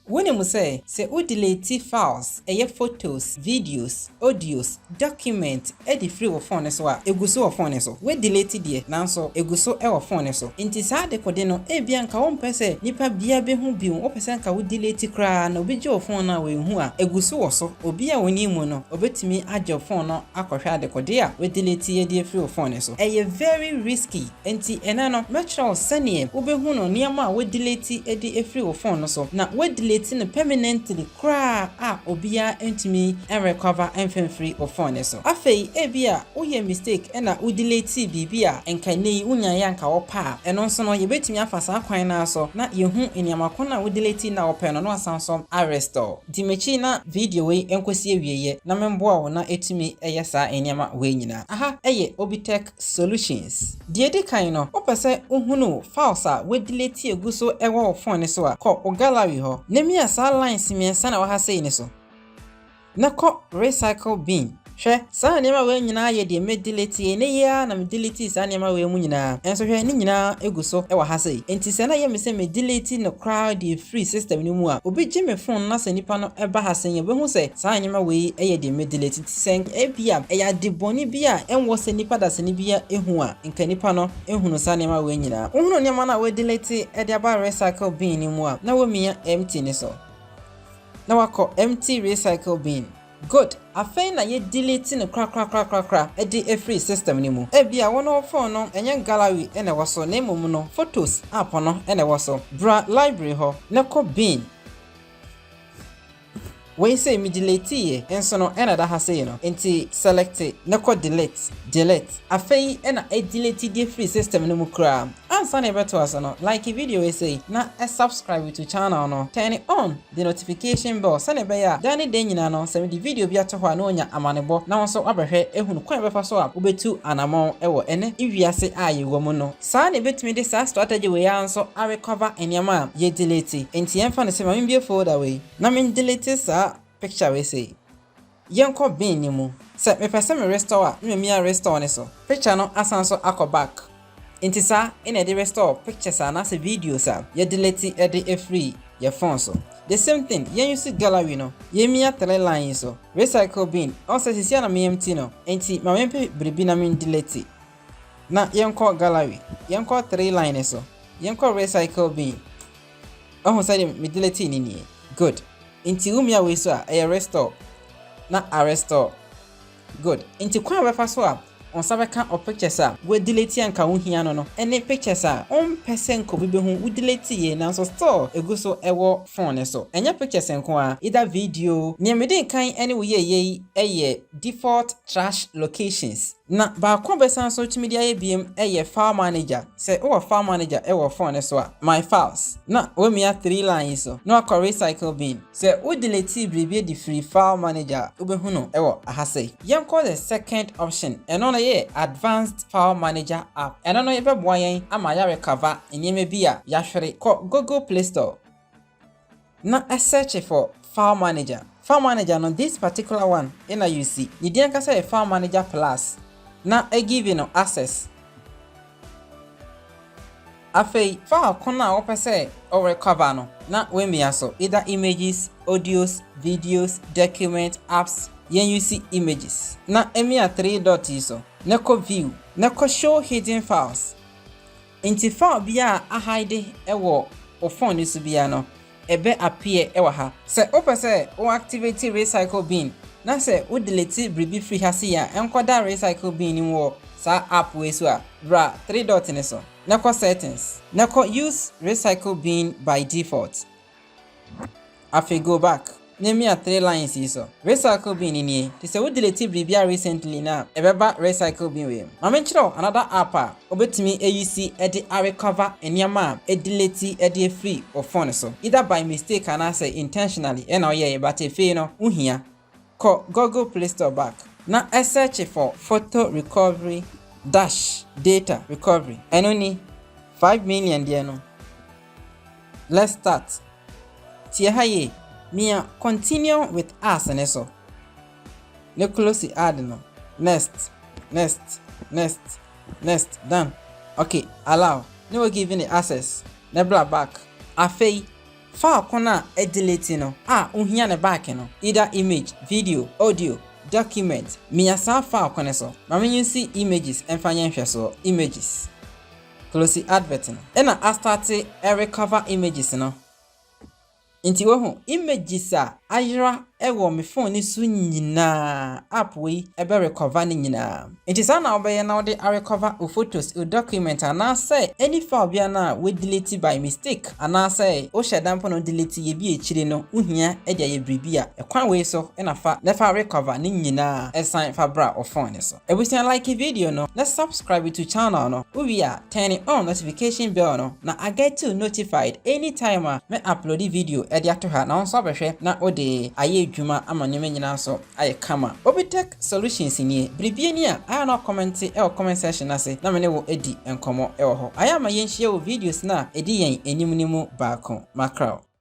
Wunim sɛ, sɛ wudeleti files, ɛyɛ photos, videos, audios, documents, adi firi wo fon no so a, egu so wɔ fon no so? Woadeleti deɛ, nanso egu so wɔ fon no so. Enti saa dekode no, ebia anka wompɛ sɛ nipa biara behu bio, wopɛ sɛ anka wudeleti koraa na obi gye wo fon no a, wanhu a, egu so wɔ so. Obi a onnim mu no, obetumi agye wo fon no akɔhwɛ adekode a woadeleti adi afiri wo fon no so. Ɛyɛ very risky. Enti ɛnnɛ no, mɛkyerɛ wo sɛdeɛ wobɛhu no nneɛma a wɔadeleti de afiri wo phone no so, na wɔadeleti no permanently koraa a obiara ntumi nrecover mfa mfiri wo phone no so. Afei ebia woyɛɛ mistake na wodeletee biribi a nka ɛnnɛ yi wonyaeɛ a nka wopɛ a, ɛno nso no yɛbɛtumi afa saa kwan no ara so na yɛahu nneɛma ko no a wodeletee no a wopɛ no na woasan nso arestore. Di m'akyi na video wei nkɔsi awieeɛ na memmoa wo na atumi ayɛ saa nneɛma wei nyinaa. Aha yɛ Obitech. Solutions. Deɛ ɛdi kan no, wopɛ sɛ wohunu files a woadelete agu so wɔ wo fon no so a, kɔ wo gallery hɔ, na mia saa lines mmiɛnsa na ɛwɔ ha sei no so, na kɔ Recycle Bin. Hwɛ, saa nneɛma wei nyinaa yɛ deɛ medelete, ɛnnɛ yi ara na medeletee saa nneɛma wei mu nyinaa, nso hwɛ, ne nyinaa gu so wɔ ha sei. Enti sɛ na ɛyɛ me sɛ medelete no koraa de afiri system no mu a, obi gye me fon na sɛ nipa no ba ha sei a, ɔbɛhu sɛ saa nneɛma wei yɛ deɛ medelete. Sɛ nka ebia ɛyɛ ade bɔne bi a ɛnwɔ sɛ nnipa dasani biara hu a, nka nnipa no hunu saa nneɛma wei nyinaa. Wohunu nneɛma no a wɔadelete de aba recycle bin no mu a, na womia empty no so, na woakɔ empty recycle bin. Good. Afei na yɛadelete no korakorakorakora de afiri system no mu. Ebia wo ne wo fon no, ɛnyɛ gallery na ɛwɔ so, na mmom no, Photos app no na ɛwɔ so. Bra library hɔ na kɔ bin. Wei sei me delete yɛ nso no ɛna ɛda ha sei no nti select na kɔ delete delete. Afei na ɛdelete deɛ firi system no mu koraa. Ansa na yɛbɛtoa so no like video wei sei na subscribe to channel no turn on the notification bell sɛdeɛ ɛbɛyɛ a da ne da nyinaa no sɛ mede video bi ato hɔ a na wanya amanebɔ na wo nso wabɛhwɛ ahunu kwan a ɛbɛfa so a wobɛtu anamɔn wɔ ɛnɛ wiase a yɛwɔ mu no Saa na yɛbɛtumi de saa strategy wei ara nso a recover nneɛma a yɛ delete. Enti yɛmfa no sɛ ma membue folder wei na me delete saa picture wei sei. Yɛnkɔ bin no mu. Sɛ mepɛ sɛ me restore a na mamia restore no so. Picture no asan so akɔ back. Enti saa na yɛde restore pictures anaasɛ videos a yɛ delete de afiri yɛ phone so. The same thing, yɛn use gallery no, yɛmia three line yi so, recycle bin, ɔsɛ seesei a na me empty no, enti ma mempɛ biribi na me delete. Na yɛnkɔ gallery, yɛnkɔ three line no so, yɛnkɔ recycle bin. Wahu sɛdeɛ me deletee no nie? Good. Nti wo mia wei so a, ɛyɛ restore na a restore. Good. Nti kwan a wobɛfa so a wo nsa bɛka wo pictures a woadelete a nka wohia no no ne pictures a wompɛ sɛ nka obi bɛhu wodeletee nanso still ɛgu so wɔ phone no so. Ɛnyɛ pictures nko ara, either video. Nea medi nkan ne wo yɛeɛ yi yɛ default trash locations. Na baako bɛsan so tumi de ayɛ biom yɛ file manager, sɛ wowɔ file manager wɔ phone no so a, my files, na wamia three line yi so na wakɔ recycle bin. Sɛ wo deletee biribi adi firii file manager a, wobɛhu no wɔ aha sei. Yɛnkɔ the second option, ɛno no yɛ advanced file manager app, ɛno no bɛboa yɛn ama yɛarecover nneɛma bi a yɛahwere, kɔ Google play store, na ɛ search for file manager file manager no this particular one ena you see ne din ankasa yɛ file manager plus na ɛ give no access afei file ko no a wopɛ sɛ ɔ recover no na wamia so either images audios videos document apps yɛn you see images na ɛ mia three dot yi so na kɔ view na kɔ show hidden files. Nti file biara a ahide wɔ wo phone no so biara no, ɛbɛ appear wɔ ha. Sɛ wopɛ sɛ wo activate recycle bin na sɛ wo delete biribi firi ha sei a ɛnkɔda recycle bin no mu wɔ saa app wei so a, bra three dot no so na kɔ settings na kɔ use recycle bin by default Afei go back na mia three lines yi so. Recycle bin no nie. Te sɛ wo delete biribi a recently no a, ɛbɛba recycle bin wei mu. Ma me nkyerɛ wo another app a wobɛtumi a use de a recover nneɛma a e delete de afiri wo phone so. Either by mistake anaasɛ intentionally na woyɛeɛ but afei no wohia. Kɔ Google Play Store back na search for photo recovery dash data recovery ɛno ni, five million deɛ no, let's start. Tie ha yie, mia continue with us no so, ne close ad no, next, next, next, next, done, ok, allow, ne wo give ne access, ne bra back, afei Faako no a ediliti no a ohia ne back no, either image, video, audio, document, mia saa faako no so ma me nsi images mfa nyɛ nhwɛsoɔ, images, closi advert no, ɛna astarte recover images no, nti wohu, images a ayera Ɛwɔ me phone no so nyinaa, app wei ɛbɛ recover ne nyinaa. Nti saa na wobɛyɛ na wode a recover wo photos, wo document anaasɛ any file biara no a wo delete by mistake anaasɛ wo hyɛ da mpo na wo delete yɛ bi akyire no wo hia de ayɛ biribi a, ɛkwan wei so na fa na fa recover ne nyinaa san fa bra wo phone no so. Abusua like video no na subscribe to channel no, wo wie a, Turn on notification bell no na a get you notified anytime a me upload video de ato ha na wo nso abɛhwɛ na wode ayɛ adwuma ama nneɛma nyinaa so ayɛ kama. Obitech Solutions nie, biribi ani a ayɛ a na ɔkɔmɛnte wɔ comment section no ase na me ne wo adi nkɔmmɔ wɔ hɔ. Ayɛ a ma yɛnhyia wɔ videos no a ɛdi yɛn anim no mu baako. Mackerel.